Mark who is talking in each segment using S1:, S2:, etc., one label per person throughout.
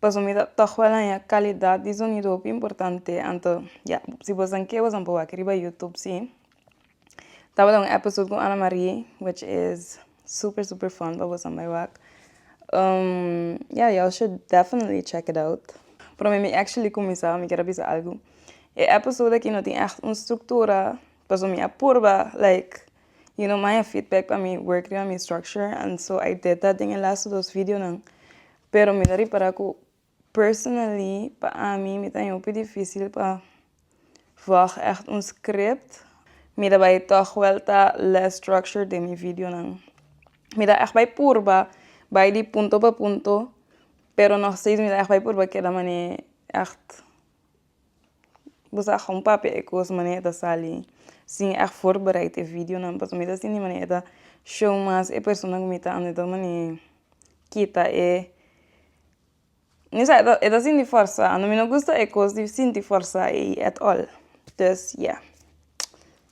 S1: pasobra mi ta tok wèl haña calidad di zonido hopi importante anto ya si boso nan ke boso nan por wak riba youtube si tabata un episode ku ana marie which is super super fun pa boso nan bai wak ya yo shud definitely check it out pero mi actually kuminsá mi ker a bisa algu e episode aki no tin ègt un struktura pasobra mi a purba like y lo maya feedback pa mi work riba mi structure and so I did that den e lastu dos videonan pero mi ta ripara cu personally pa ami mi ta hopi dificil pa volg echt un script mi ta bay tog wel ta less structured den mi videonan mi ta echt bay purba bay di punto pa punto pero nog steeds mi ta echt bay purba keda mane echt Bo sa how papia e cos mane e ta sali sin echt voorbereid e videonan pasobra mi ta sinti mane e ta show mas e persona ku mi ta anda ta mane kita e mi sa e ta sinti forsa mi no gusta e cos di sinti forsa ei at all dus ya.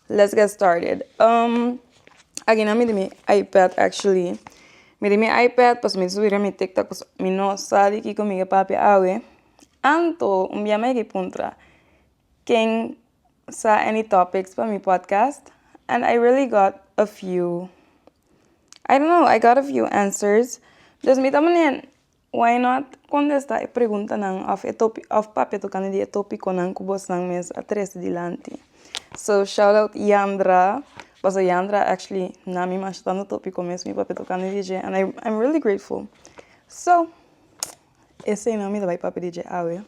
S1: Let's get started um agina mi den mi ipad actually mi den mi ipad pasobra mi subira mi tiktok pasobra mi no sa di kiko mi ke papia awe anto un bia mi yeki puntra ken sa any topics pa mi podcast and I really got a few I don't know I got a few answers dus mi ta manera Why not contesta e preguntanan of e topi of papia tocante di e topiconan cu bosnan mes a trece dilanti so shout out Yandra paso Yandra actually na mi masha tanto topico mes mi papia tocante di dje and I I'm really grateful so esey nan mi ta bai papia di dje awe.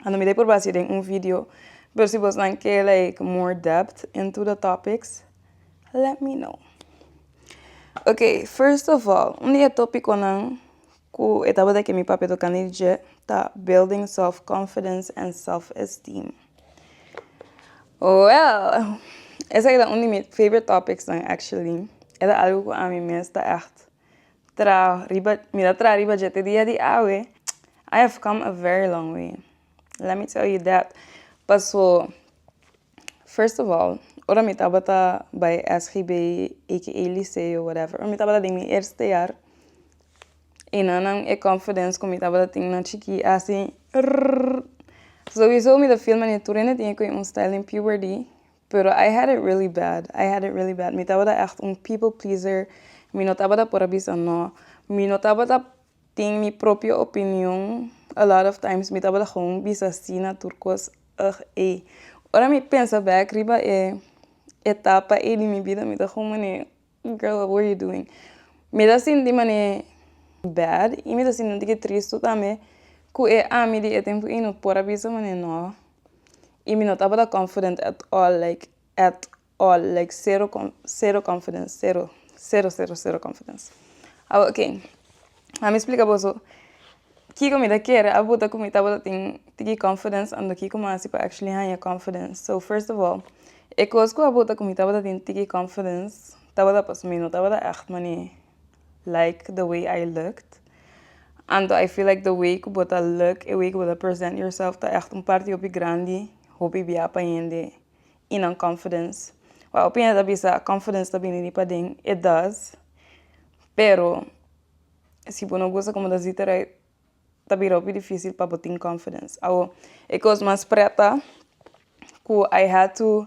S1: a lo mira por base den un video pero si vos nan ke like more depth into the topics let me know okay first of all un di e topico nan cu e tabata ke mi papi a tocani dje ta building self confidence and self esteem well esaki ta un di mi favorite topics nan actually e ta algo cu ami mes ta echt Tra riba, mi ta tra riba dje te dia di awe, I have come a very long way, let me tell you that. Paso, first of all, ora mi tabata bai SGB aka Liceo whatever, ora mi tabata den mi eerste jaar, e nannan e confidence ku mi tabata tin na chikí a hasi rrrrrr. Souiso mi ta feel manera tur hende tin e kohe un stijl den puberty, Pero I had it really bad, I had it really bad. Mi tabata ègt un people pleaser, mi no tabata por a bisa no, mi no tabata tin mi propio opinion, a lot of times mi tabata gewoon bisa sí na tur kos, ugh ey. Ora mi pensa back riba e etapa ey di mi bida mi ta gewoon mane. Girl what were you doing? Mi ta sinti mane bad y mi ta sinti un tiki tristu tambe cu e ami di e tempo y no por a bisa mane no y mi no tabata confident at all like at all like cero cero confidence cero cero cero cero confidence awe ok ami splica boso. Kiko mi ta kere a buta ku mi tabata tin tiki confidence ando kiko mi hasi pa actually haña confidence so first of all e kos ku a buta ku mi tabata tin tiki confidence tabata paso mi no tabata echt mani like the way I looked ando I feel like the way ku bo ta look e way ku bo ta present yourself ta echt un parti hopi grandi hopi bia pa hende y nan confidence wak hopi hende ta bisa confidence ta bini di paden it does pero si bo no gusta como ta zit rei ta bira hopi dificil pa bo tin confidence awo e cos mas pretta cu I had to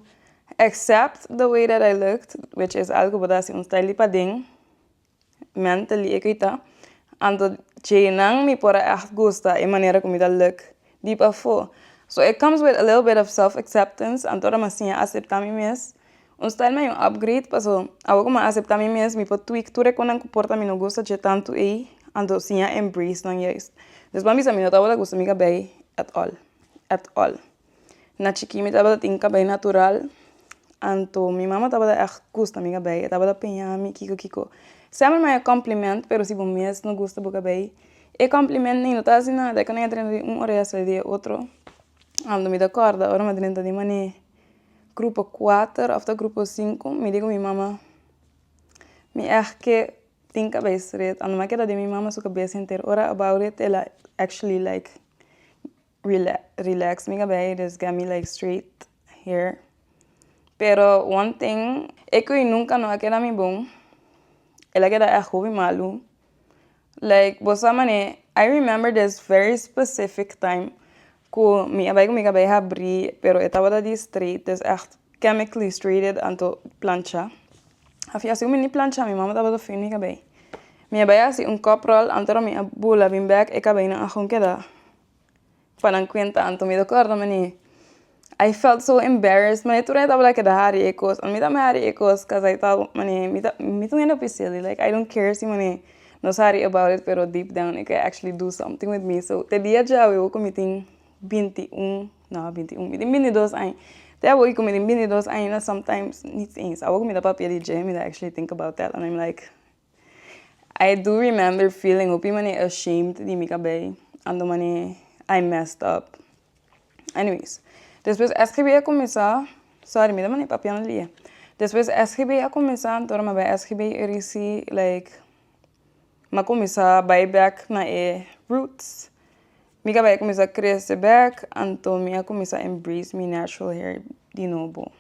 S1: except the way that I looked which is algo cu bo ta hasi un style di paden mentally e koi ta anto djeinan mi por a echt gusta e manera cu mi ta look di pafo so it comes with a little bit of self exceptance anto ora mi a siña acepta mi mes Un style mi a yu upgrade paso awo ku mi a aseptá mi mes mi por tweek tur e kon nan ku por ta mi no gusta dje tantu ei anto siña embrace nan yais despues mi a bisa mi no tabata gusta mi kabei at all at all na chikí mi tabata tin kabei natural anto mi mama tabata ègt gusta mi kabei e tabata piña mi kiko kiko sèmen mai e compliment pero si bo mes no gusta bo kabei e compliment ney no ta haci nada e konai a drenta di un orea a sali di e otro anto mi ta kòrda ora mi a drenta di manei. grupo kuater of ta grupo sinku mi diku mi mama mi èg ke tin kabes ret a numa keda den mi mama su kabes henter ora a bou ret el a actually like rela relax mi kabes he just gave me like straight hair pero one thing e koe nunka no a keda mi bon el a keda èg hopi malu Like bo sa mane I remember this very specific time ku mi a bai ku mi kabei habri pero e tabata di straight des echt chemically straighted anto plancha a fin asi ku mi ni plancha mi mama tabata fin mi kabei mi a bai hasi un cup roll anto mi a bula bin bek e kabeinan a kon keda. Pa nan kuenta Anto mi ta kòrda man'i I felt so embarrassed man'i tur ai tabata keda hari e kos oi mi ta mi hari e kos kos ai ta man'i mi ta mi ta wenda pi silly like I dont care si man'i nos hari about it pero deep down i ken actually do something with mi so te dia djawe awor ku mi tin binti un no binti un mi tin binti dos aña te awor ku mi tin binti dos aña na sometimes nit eens awor ku mi ta papia di dje mi ta actually think about that and im like I do remember feeling hopi manera ashamed di mi cabei and do manera I messed up. Anyways, despues SGB a cuminsa, sorry mi ta manda e papiona lia. Despues SGB a cuminsa anto ora mi a bay SGB e risi like m'a cuminsa bay back na e roots. Mi cabei a cuminsa crece back anto mi a cuminsa embrace mi natural hair di nobo.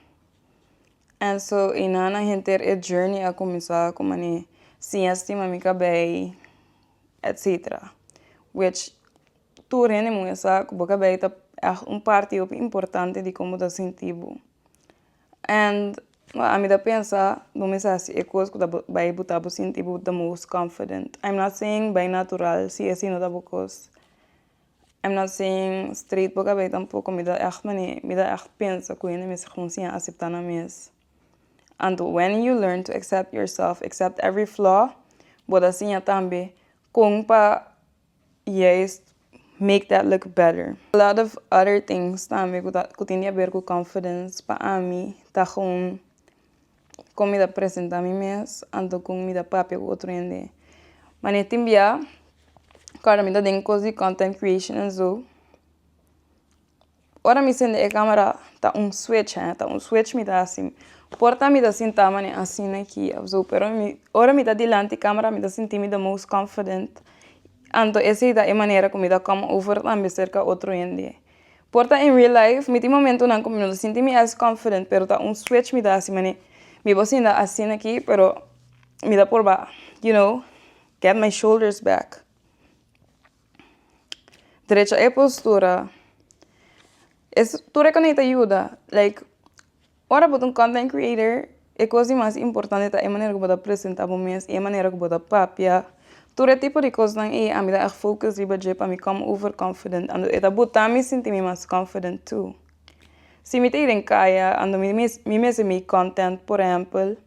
S1: And so e nana henter e journey a kuminsá ku mane siña stima mi kabei etcetera which tur hende muhe sa ku bo kabei ta èg un parti hopi importante di komo bo ta sinti bo and ami ta pensa bo mes a hasi e kos ku ta bai buta bo sinti bo the most confident, I'm not saying bai natural si esi no ta bo kos. Em na sin street bo kabei tampoco mi ta echt mani mi ta echt pensa cu yende mester cuminsi a acepta nan mes anto when you learn to accept yourself accept every flaw bo ta siña tambe con pa juist make that look better lot of other things tambe cu ta cu tin di haber cu confidence pa ami ta con. Kon mi ta presentá mi mes anto kon mi ta papia ku otro hende. Mane tin bia kuando mi ta den kos di kòntent kreashon an so ora mi sende e kamera ta un switch he ta un switch mi ta hasi por ta mi ta sinta mane asina aki abaso pero mi ora mi ta dilanti kamera mi ta sinti mi ta most confident anto esei ta e manera ku mi ta kòm over tambe serka otro hende. Por ta en real life mi tin momentonan ku mi no ta sinti mi as confident pero ta un switch mi ta hasi manera mi por sinta asina aki pero mi ta por baha you know get my shoulders back drecha e postura es tur e kunish ta yuda like Ora bo ta un content creator e cos di mas importante ta e manera cu bo ta presenta bo mes y e manera cu bo ta papia tur e tipo di cosnan ey ami ta echt focus riba dje pa mi come over confident ando e ta bota mi sinti mi mas confident too si mi ta ey den caya ando mi mes mi mes mi content por ehempel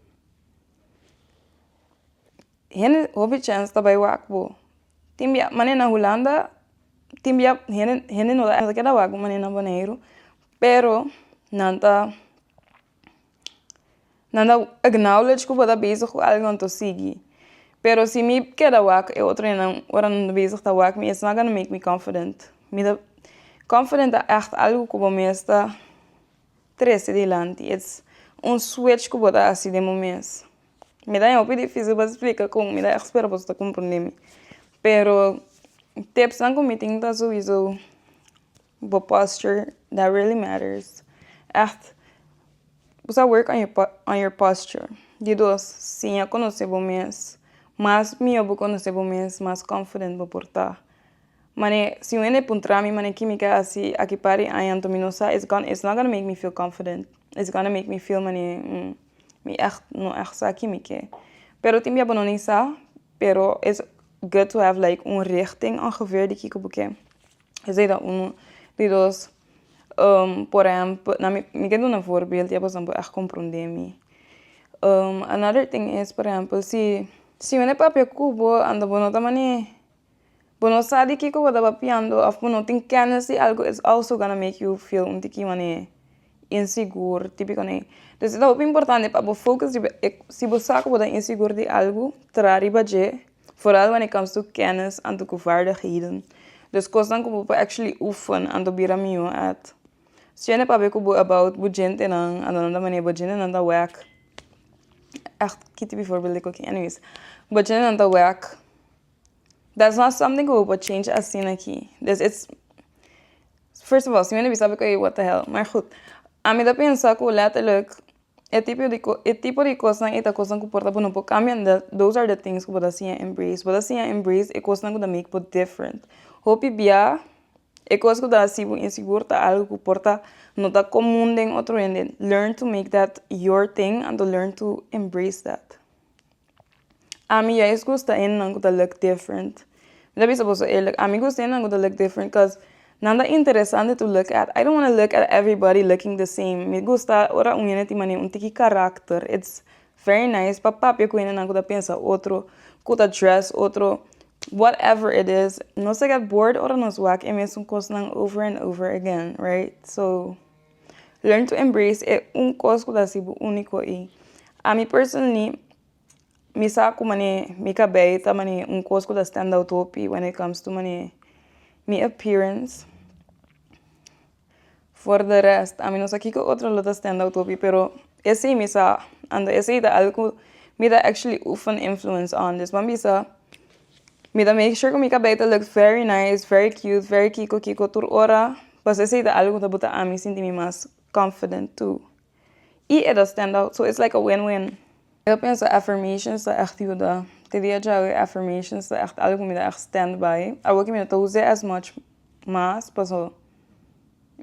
S1: hende hopi chance ta bay wak bo tin bia mane na hulanda tin bia hende hende no ta kier wak bo mane na boneiru Pero nan ta nan ta acknowledge ku bo ta bezig ku algo nan ta sigui pero si mi keda wak e otro día nan ora nan ta bezig ta wak mi it's not gonna make me confident mi ta confident ta echt algo ku bo mes ta trese dilanti it's un switch ku bo ta hasi den bo mes mi ta hopi dificil pa explica con mi ta echt spera boso ta comprende mi pero tips nan ku mi tin ta sowieso Bo posture that really matters Echt Bo sa work on your posture Di dos, siña conoce bo mes Mas miyo bo conoce bo mes mas confident bo por ta Mane si un hende puntra mi mane ki mi ke haci aki par di aña anto mi no sa It's not gonna make me feel confident It's gonna make me feel mane mi echt no echt sa aki mi ke Pero tin bia bo no ni sa pero it's good to have like un richting ongeveer di kiko bo ke. esei ta unu di dos por ehèmpel na mi mi ke duna voorbeeld di abasan por echt komprendé mi another tin is por ehèmpel si si bo no papia ku bo and bo no ta mane bo no sa di kiko bo ta papiando of bo no tin kennis di algo is also gonna make you feel un tiki mane insegur típico ne dus esta hopi importante pa bo focus riba e si bo sa ku bo ta insegur di algo traha riba dje foral wanneer comes to kennis and to vaardigheden dus kosnan ku bo por actually oefen and to bira mihó at siña de papia ku bo about bo djentenan a lo nan ta manera bo djentenan ta wak echt kiti bivoorbeeld diko aki anyways bo djentenan ta wak dat is not something ku bo por change asina aki des its first of all si wen a bisa bo ta ke whathehell maar goed ami ta pensa ku letterlijk. E tipo di ko e tipo di kosnan e ta kosnan ku por ta bo kambia nda those are the things ku bo ta siña embrace bo ta siña embrace e kosnan ku ta make bo different hopi bia e kos ku ta hasi bo insigur ta algu ku por ta no ta komun den otro hende learn to make that your thing and to learn to embrace that. Ami ya es gusta enan ku ta look different mi ta bisa boso eerlik ami gusta enan ku ta look different cos nan ta interesante to look at i dont wanna look at everybody looking the same mi gusta ora un hende tin mane un tiki karakter it's very nice pa papia ku hendenan ku ta pensa otro ku ta dress otro whatever it is nos a get bored ora nos wak e mesun kosnan over and over again right so. Learn to embrace e un kos ku ta hasibo úniko i ami personally mi sa ku mane mi kabei ta mane un kos ku ta stand out hopi wen it comes to mane mi appearance for the rest ami no sa kiko otro lo ta stand out hopi pero esei mi sa ando esei ta algo ku mi ta actually oefen influence on dus wan bisa. Mi ta make sure ku mi kabèita look very nice very cute very kiko kiko tur ora pasobra esei ta algu ku ta bota ami sinti mi mas confident tu i e ta stand out so it's like a win win. Lo ke pensa affirmations ta ègt yuda te dia djawe affirmations ta ègt algu ku mi ta ègt stand by awor ke mi no ta uza as much mas paso.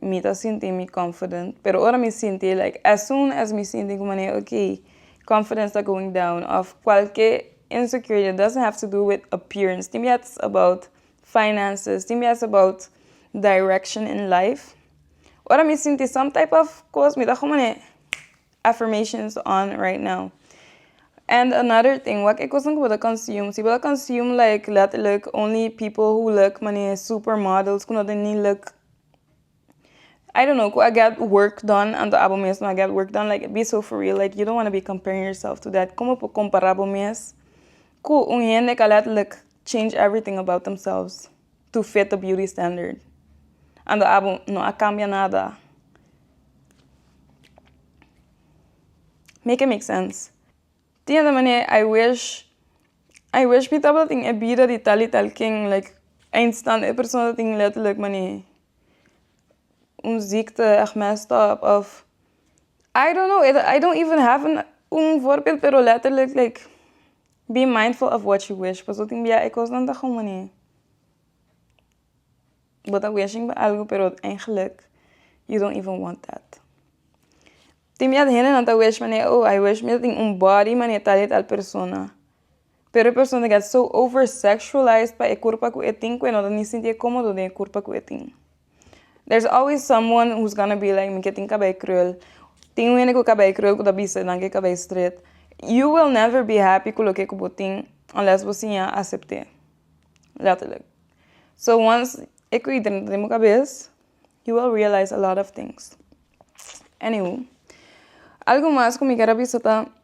S1: Mi ta sinti mi confident pero ora mi sinti like as soon as mi sinti como ne ok confidence ta going down of cualke insecurity it doesn't have to do with appearance tin biaha ta ser about finances tin biaha ta ser about direction in life ora mi sinti some type of cos mi ta como ne. affirmations on right now and another thing wak e cosnan cu bo ta consume si bo ta consume like letterlijk only people who look manera e super models cu no ta ni look I don't know cu a get work done anto abo mes no a get work done like be so for real like you don't wanna be comparing yourself to that como por compara bo mes cu un hende ca letterlijk change everything about themselves. Tu fit to beauty standard. Ando abo no a cambia nada. Make it make sense. Tin hende mane i wish i wish mi tabatin e bida di tal y tal king like eén stant e persona tin letterlijk mane un ziekte ech messed up of i don't know i don't even have un voorbeeld pero letterlijk like Be mindful of what you wish pasobra tin bia e cosnan ta homoni bo ta wishing pa algo pero eigenlik you don't even want that tin bia hendenan ta wish pané oh I wish me ta tin un body manier tal y tal persona pero e persona ta get so over sexualize pa e curpa cu e tin cu e no ta ni sinti e comodo den e curpa cu e tin. There's always someone who's gonna be like mi ke tin kabei krul tin wende ku kabei krul ku ta bisa nan ke kabei stret you will never be happy ku loke ku bo tin unless bo siña asepte letterlijk so once e kwikeren ta den bo kabes you will realize a lot of things any who algu mas ku mi ker a bisa ta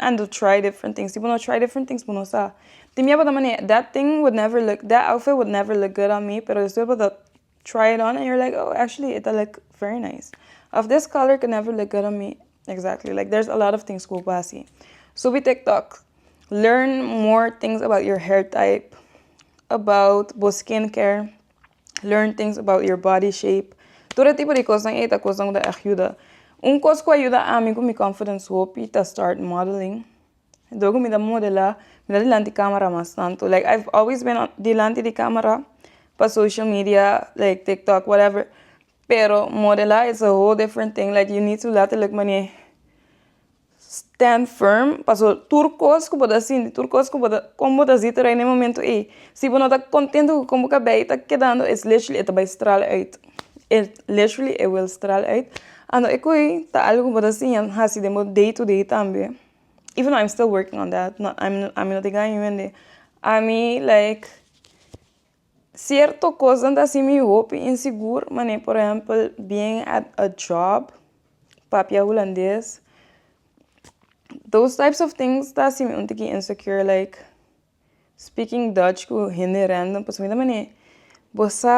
S1: Ando try different things si bo no try different things bo no sa tin mia bo ta mane that thing would never look that outfit would never look good on me pero despues bo ta try it on and you're like oh actually it ta look very nice of this color could never look good on me exactly like there's a lot of things ku bo por hasi subi tiktok learn more things about your hair type about bo skin care learn things about your body shape tur e tipo di kosnan ei ta kosnan ku ta ayuda un kos ku a yuda ami ku mi confidence hopi ta start modeling dor ku mi ta modela mi ta dilanti camera mas tantu like I've always been dilanti di camera pa social media like tiktok whatever pero modela is a whole different thing like you need to laterlijk mane Stand firm paso tur kos ku bo ta sinti tur kos ku bo ta kon bo ta siti rai na e momento ei si bo no ta kontento ku kon bo kabei ta kedando es leshli e ta bai stral uit e leshli e wil stral uit ando e koe ta algu ku bo ta siña hasi den bo day to day tambe iveno aim stil working on dat ami no tin gaño hende ami like Sierto kosnan ta hasi mi hopi insigur manera por ehempel being at a job papia hulandes those types of things ta hasi mi un tiki insecure like speaking Dutch ku hende random pasobra mi ta mene bo sa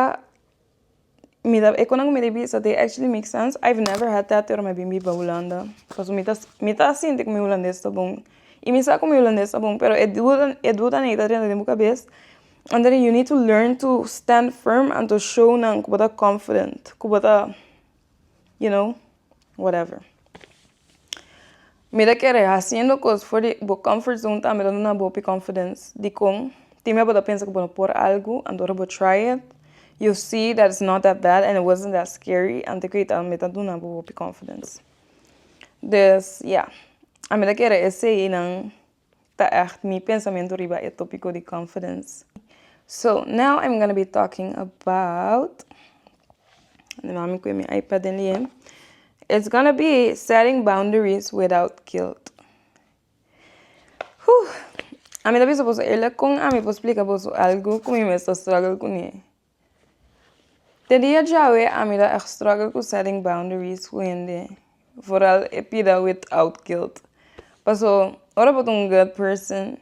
S1: mi ta e konan ku mi ta bisa de actually make sense i have never had that ora mi a bin biba hulanda paso mi ta mi ta sinti ku mi hulandes ta bon i mi sa ku mi hulandes ta bon pero e duda e duda ney ta renta den bo kabes anto you need to learn to stand firm anto show nan ku bo ta confident ku bo ta you know whatever mira kere hasiendo cos for di bo comfort zone ta mira duna bo hopi confidence dicon tin mei bo ta pensa cu bo no por algo antora bo try it you see that is not that bad and it wasn't that scary anto cu ta mei ta duna bo hopi confidence des yeah a mira kere eseinan Ta echt mi pensamentu riba e topiko di confidence. So now im gonna be talking about na mami ku e mi ipad den liem it's gonna be setting boundaries without guilt Ami ta bisa boso e la kon ami por splika boso algu ku mi mes ta struggle kune. Te dia djawe ami ta a struggle cu setting boundaries cu hende vooral e pida with out guilt paso ora bo ta un good person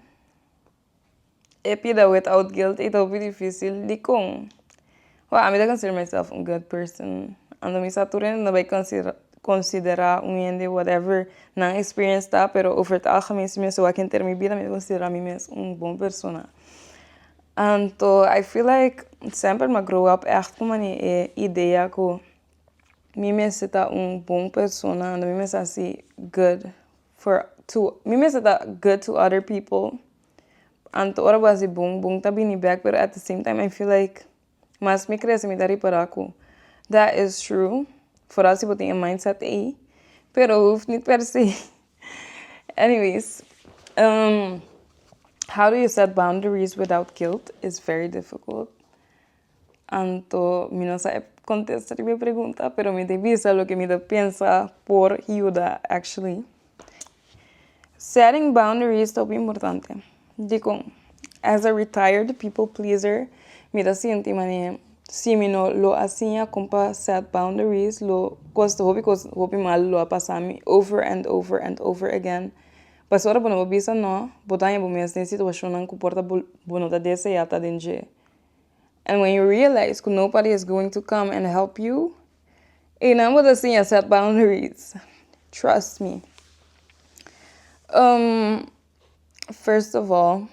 S1: e pida with out guilt e ta hopi dificil dicon? Wou ami ta consider myself un good person ando mi sa tur hende no bay considera considera un hende whatever nan experience ta pero over het algemeen si mi a wak henter mi bida mi ta considera mi mes un bon persona Anto I feel like semper m'a grow up echt ku mane e idea ku mi mester ta un bon persona unda mi mester hasi good for to mi mester ta good to other people anto ora bo hasi bon bon ta bini back pero at the same time I feel like mas mi crece mi ta repara ku that is true for hasi bo tin e mindset ei pero hoeft ni per se Anyways, um, how do you set boundaries without guilt is very difficult. Anto mi no sa e contesta riba e pregunta pero mi ta bisa loke mi ta pensa por yuda actually. Setting boundaries ta hopi importante. Dikon? As a retired people pleaser mi ta sinti man'e si mi no lo a siña kon pa set boundaries lo koste hopi kos hopi malu lo a pasa mi over and over and over again pasobra ora bo no bo bisa no bo ta haña bo mes den situashonnan ku por ta bo no ta desea ta den dje and when you realize ku nobody is going to come and help you einan bo ta siña set boundaries trust me. first of all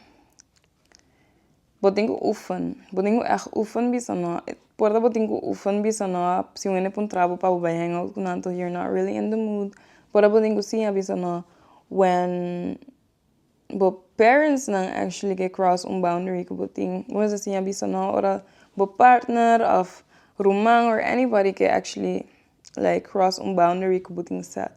S1: bo tin ku ufen bo tin ku echt ufen bisa no por bo tin ku ufen bisa no si un hende puntra bo pa bo bai hang out ku nan tok you're not really in the mood por bo tin ku si a bisa no when bo parents nan actually ke cross un boundary ku bo tin bo mes a siña bisa no ora bo partner of ruman or anybody ke actually like cross un boundary ku bo tin set.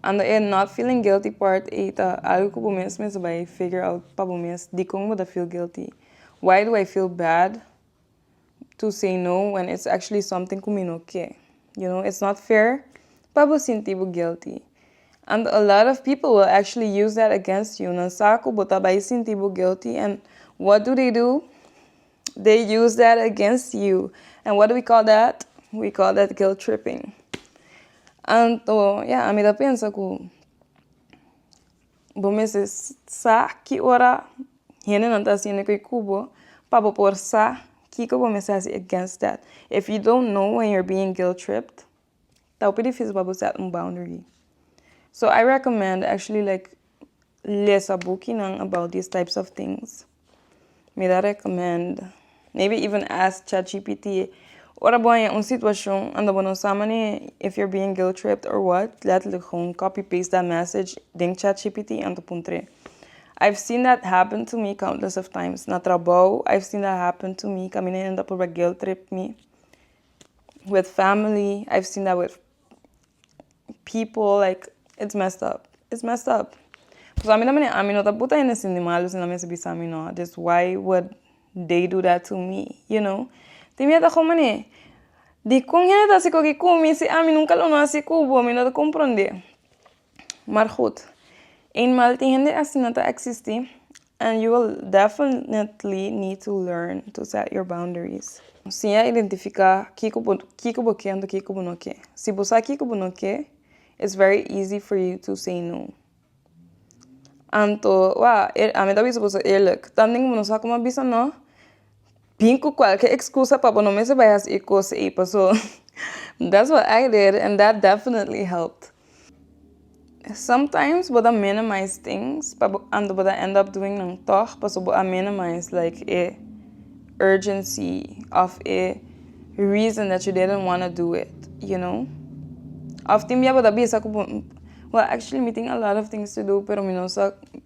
S1: Ando e not feeling guilty part ei ta algo ku bo mes mes a bai figure out pa bo mes dikon bo ta feel guilty. Why do I feel bad to say no when it's actually something ku mi no ke? You know, it's not fair pa bo sinti bo guilty. And a lot of people will actually use that against you. Nan sa ku bo ta bai sinti bo guilty and what do they do? they use that against you and what do we call that we call that guilt tripping anto ya ami ta pensa ku bo mester sa ki ora hendenan ta haciendo ke ku bo pa bo por sa kiko bo mester hasi against that if you don't know when you're being guilt tripped ta hopi difisil pa bo set un boundary so I recommend actually like lesa bukinan about this types of things mi ta recommend maybe even ask chat gpt ora bo a haña un situacion anda bo no sa manera if you're being guilt tripped or what letterlijk gewoon copy paste that message den chat gpt en ta puntre I've seen that happen to me countless of times na trabao I've seen that happen to me kaminda hendon ta purba guilt trip mi with family i have seen that with people like it's messed up it's messed up pasobra ami ta mira ami no ta puta hende sin di malu si nan a mester bisa mi no this why would they do that to me you know tin mi a ta gou mane dikon hende ta hasi koki ku mi si ami nunca lo no hasi ku bo mi no ta kompronde. mar goed eenmaal tin hende asina ta existi and you will definitely need to learn to set your boundaries si a identifica kiko bo kiko bo ken ento kiko bo no ken si bo sa kiko bo no ken is very easy for you to say no anto wa ami ta bisa boso eerlyk ta ting bo no sa como a bisa no Bin cu cualkier excusa pa bo no mester bay haci e cos ey, paso that's what I did and that definitely helped. Sometimes bo ta minimize things pa bo and bo ta end up doing nan tog paso bo a minimize like e urgency of e reason that you didn't wanna do it, you know. Of tin bia bo ta bisa cu bo, well actually mi tin a lot of things to do pero mi no sa.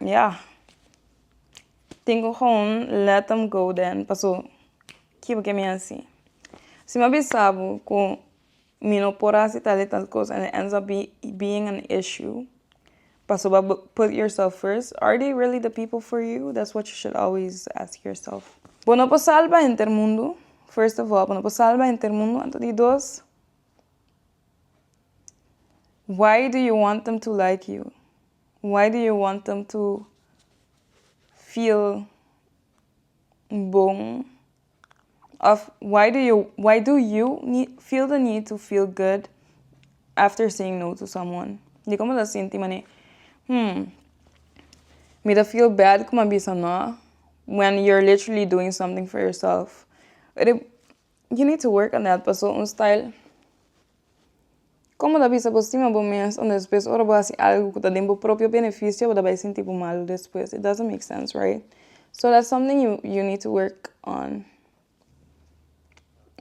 S1: Ya tengo houn let em go den paso kiba ke mi a hasi si mi a bisa bo ku mi no por hasi tal i tal kos and it ends up be being an issue paso ba put yourself first are they really the people for you that's what you should always ask yourself bo no por salba henter mundu first of all bo no por salba henter mundu anto di dos Why do you want them to like you? Why do you want them to feel bon? Of why do you why do you need feel the need to feel good after saying no to someone? Di komo ta sinti mane hmm mi ta feel bad kua mi a bisa no when you're literally doing something for yourself. You need to work on that paso un style como ta bisa bo stima bo mes unda despues ora bo hasi algo cu ta den bo propio beneficio bo ta bai sinti bo malo despues it doesn't make sense right so that's something you you need to work on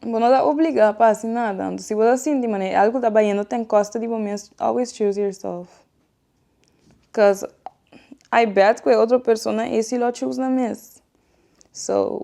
S1: bo no ta obliga pa hasi nada si bo ta sinti manera e algo ta bayendo ten costa di bo mes always choose yourself cos I bet cu e otro persona esi lo choose nan mes so.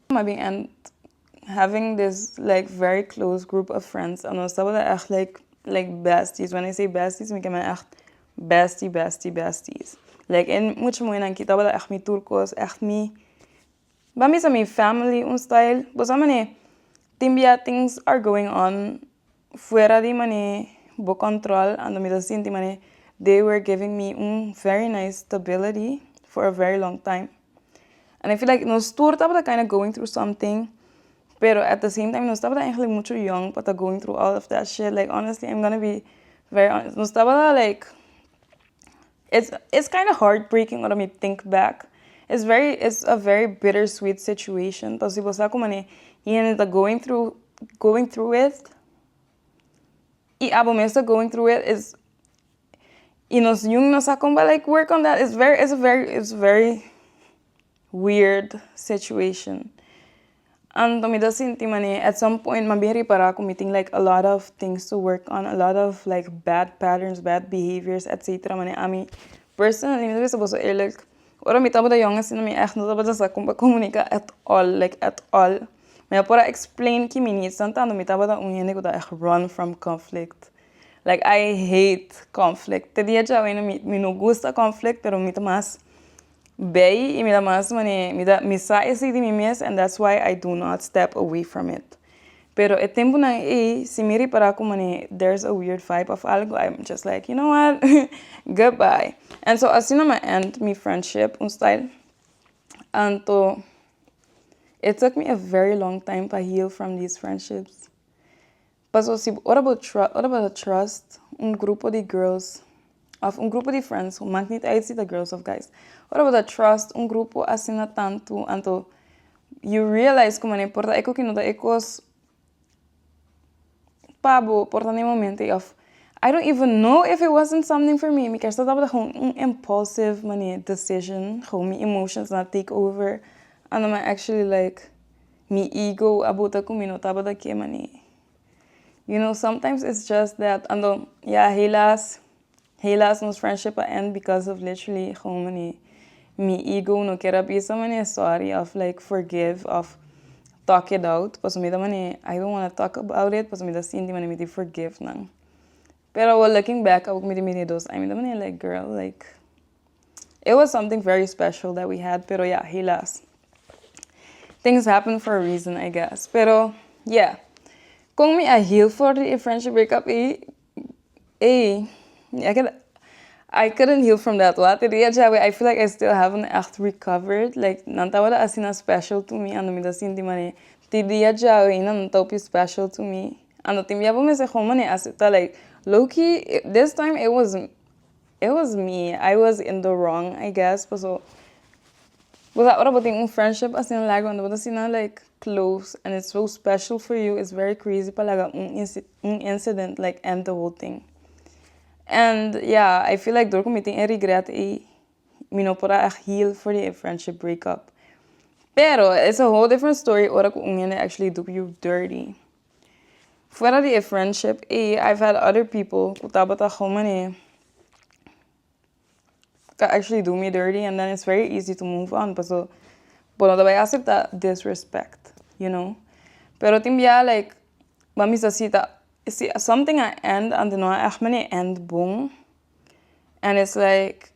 S1: M'a bin end up having this like very close group of friends en nos tabata echt like like besties, when I say besties mi ta mira echt bestie bestie besties like e mucha muhé nan aquí tabata echt mi tur cos echt mi bam bisa mi family un style bosa manera tin bia things are going on fuera di man'é bo control ando mi ta sinti man'é they were giving me un very nice stability for a very long time and I feel like nos tur tabata kinda going through something pero at the same time nos tabata eigenlijk mucho yong pa ta going through all of that shit like honestly I'm gonna be very honest nos tabata like It's it's kind of heartbreaking ora mi think back it's very it's a very bitter sweet situation ta si bo sa komo e hende ta going through going through it y abo mes ta going through it is y nos jun no sa con work on that it's very it's very it's very weird situation anto mi ta sinti manera at some point mi a bin ripara ku mi tin like a lot of things to work on a lot of like bad patterns bad behaviors etcetera manera ami personally mi ta bisa boso eerlijk ora mi tabata yong asina mi echt no tabata sa kon pa comunica at all like at all mi a por a explain ki mi needs tan tando mi tabata un hende ku ta echt run from conflict like I hate conflict te dia djawe mi no gusta conflict pero mi ta mas Bay y mi ta mas man'e mi ta mi sa esi di mi mes and that's why I do not step away from it pero e tempunan ey si mi ripara cu man'e there's a weird vibe of algo I am just like you know what goodbye and so asina mi a end mi friendship un style anto it took me a very long time pa heal from these friendships Paso si bo ora bo ora bo ta trust un grupo di girls of un grupo di friends mak nit uit si ta girls of guys ora bo ta trust un grupo asina tantu anto you realize como an'e por ta e koki no ta e kos pa bo por ta n'e momento of I don't even know if it wasn't something for me mi kèrsha tabata gewoon un impulsive manier decision gewoon mi emotions na take over anama actually like Mi ego a bota cu mi no tabata ke mané. You know sometimes it's just that ando ya helaas helaas nos friendship a end because of literally gewoon mané mi ego no kier a bisa mané sorry of like forgive of talk it out paso mi ta mané I don't wanna talk about it paso mi ta sinti mané mi tin forgive nan pero awo looking back awo cu mi tin mira e dos ai mi ta mané like girl like. It was something very special that we had, pero ya, he lost. Things happen for a reason, I guess. Pero, yeah. Con mi a heal for the friendship breakup e, e, I could, I couldn't heal from that. What? The day that I feel like I still haven't echt recovered. Like, nan ta wada asina special to me, ando mi ta sinti mane. Ti dia jao, e nan ta opi special to me. Ando tin biabo me se gewoon mane acepta, like, low-key, this time it was It was me, I was in the wrong I guess paso bo sa ora bo tin un friendship asin laga unda bo ta asina like close and it's so special for you it's very crazy pa laga un un incident like end the whole thing and yeah I feel like dor ku mi tin e regret ei mi no por a heal for di e friendship breakup pero it's a whole different story ora ku un hende actually do you dirty. Fuera di e friendship ey i've had other people cu tabata homene ca actually do me dirty and then it's very easy to move on paso bo no ta bay acepta disrespect you know pero tin bia like ban bisa si ta si something a end anto no a echt manera end bon and it's like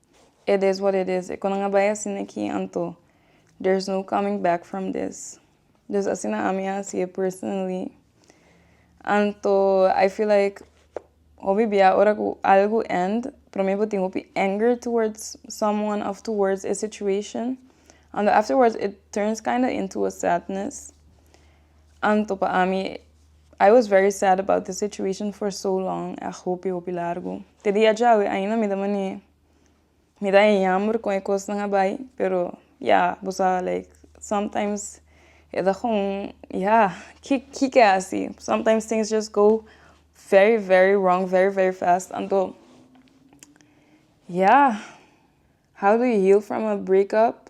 S1: It is what it is, e cu nan a bai asina aki anto there's no coming back from this, dus asina ami a haci e personally, anto I feel like hopi bia ora cu algo end pero maybe bo tin hopi anger towards someone of towards e situation anto afterwards it turns kinda into a sadness, anto pa ami I was very sad about this situation for so long, echt hopi hopi largo. Te dia djawe ainda mi ta mane mi ta e yamber kon e kosnan a bai pero ya bo sa like sometimes e ta kon ya ki kike a hasi sometimes things just go very very wrong very very fast anto ya how do you heal from a breakup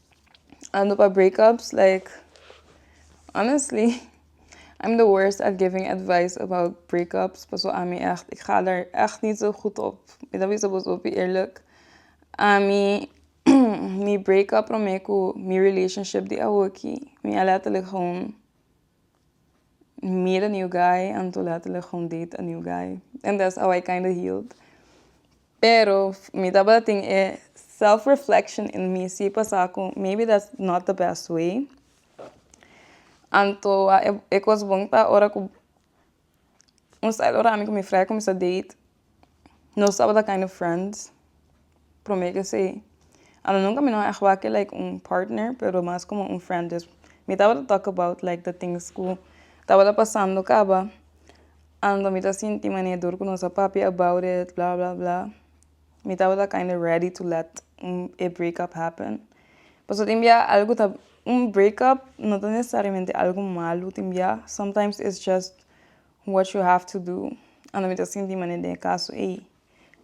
S1: ando pa breakups like honestly I'm the worst at giving advice about breakups paso ami echt ik ga daar echt niet zo goed op mi ta bisa boso hopi eerlijk ami mi breakup prome ku mi relationship di awoki mi a letterlijk home meet a new guy and to letterlijk gewoon date a new guy and that's how I kinda healed pero mi tabatatin e self reflection in mi si pasa ku maybe that's not the best way anto e kos bon ta ora ku un style ora ami ku mi frai kuminsá date Nos tabata kind of friends. Prome kesey. A lo nunka mi no a ex wak e like un partner, pero mas komo un friend. Dus mi tabata tok about like the things ku tabata pasando kaba. Anto mi ta sinti mane dur ku nos a papia about it, bla bla bla. Mi tabata kinda ready to let un e break up happen. Paso tin bia algu ta, un break up no ta nesesariamente algu malu tin bia. Sometimes it's just. What you have to do, Ando mi ta sinti manera den e caso ey.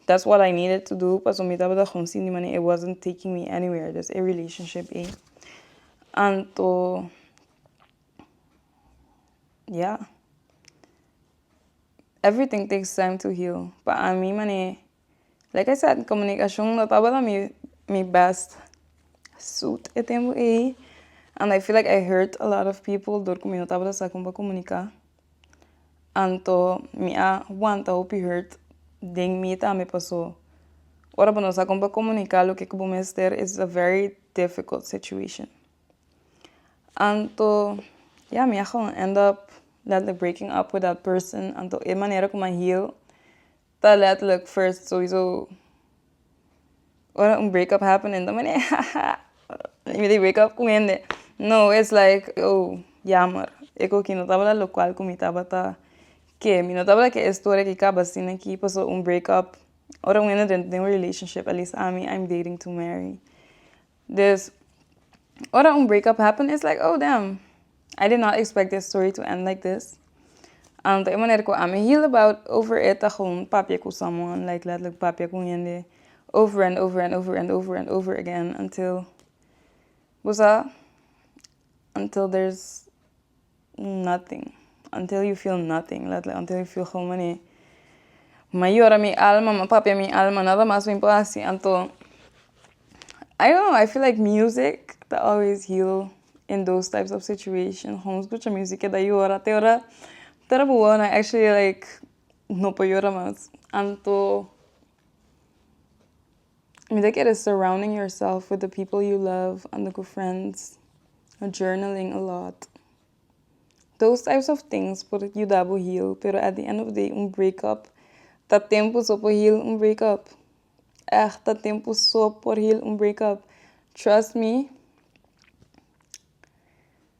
S1: That's what I needed to do, paso mi tabata con sinti manera it wasn't taking me anywhere, des e relationship ey. Anto, yeah. Everything takes time to heal. Pa ami manera Like I said comunicacion no tabata mi mi best suit e tempo ey and I feel like I hurt a lot of people dor cu mi no tabata sa con pa comunica anto mi a wanta hopi hurt den mi tambe paso ora bo no sa con pa comunica loke cu bo mester is a very difficult situation anto ya mi a gewoon end up letly breaking up with that person anto e manera como I heal Ta letterlijk first sowieso ora un breakup happen en dan mi di hahaha mi di breakup ku hende no es like oh yamer e koki no tabata lo kual ku mi tabata ke mi no tabata ke historia ki kaba asina aki paso un breakup ora un hende den un relationship at least ami I'm dating to marry Des ora un breakup happen is like oh damn I did not expect this story to end like this anto e manera ku ami heal about over it ta gewoon papia ku someone like letterlijk papia ku un hende over and over and over and over and over again until bo sa until there's Nothing. Until you feel nothing. Let like until you feel gou manera. M'a yora mi alma, m'a papia mi alma. Nada mas mi por haci. Anto, I don't know, I feel like music ta always heal in those types of situations. Gou scucha music e da yora. Te ora ta trabaja wou nan actually like no por yora mas. Anto. Mi ta kere surrounding yourself with the people you love, anda ku friends, journaling a lot. Those types of things por yuda bo heal, pero at the end of the day un breakup ta tempu so por heal un breakup. Èg ta tempu so por heal un breakup. Trust me.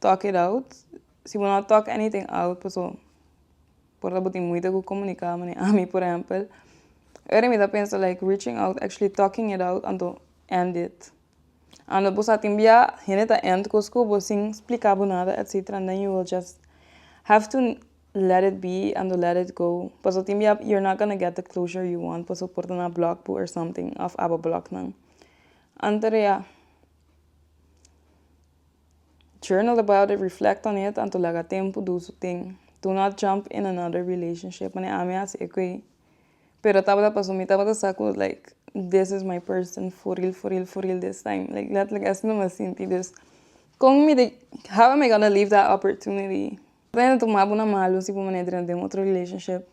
S1: Talk it out, si bo no talk anything out paso por ta bo tin moeite cu comunica manera ami por ehempel ora mi ta pensa like reaching out actually talking it out anto end it ando bo sa tin bia hende ta end cos cu bo sin splica bo nada etcetera and then you will just have to let it be ando let it go paso tin bia you're not gonna get the closure you want paso por ta na block bo or something of aba block nan anto de ya. Journal about it, reflect on it, anto laga tempu dus u tin. Do not jump in another relationship, mane ami a hasi ecu ey. Pero tabata pasobra mi tabata sa cu like this is my person for real for real for real this time. Like letterlijk esnan mi a sinti. Dus con mi di how am I gonna leave that opportunity? Bueno tuma bo na malu si bo mane drina den otro relationship.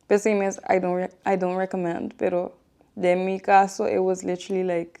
S1: P'esey mes I don't recommend. Pero den mi caso it was literally like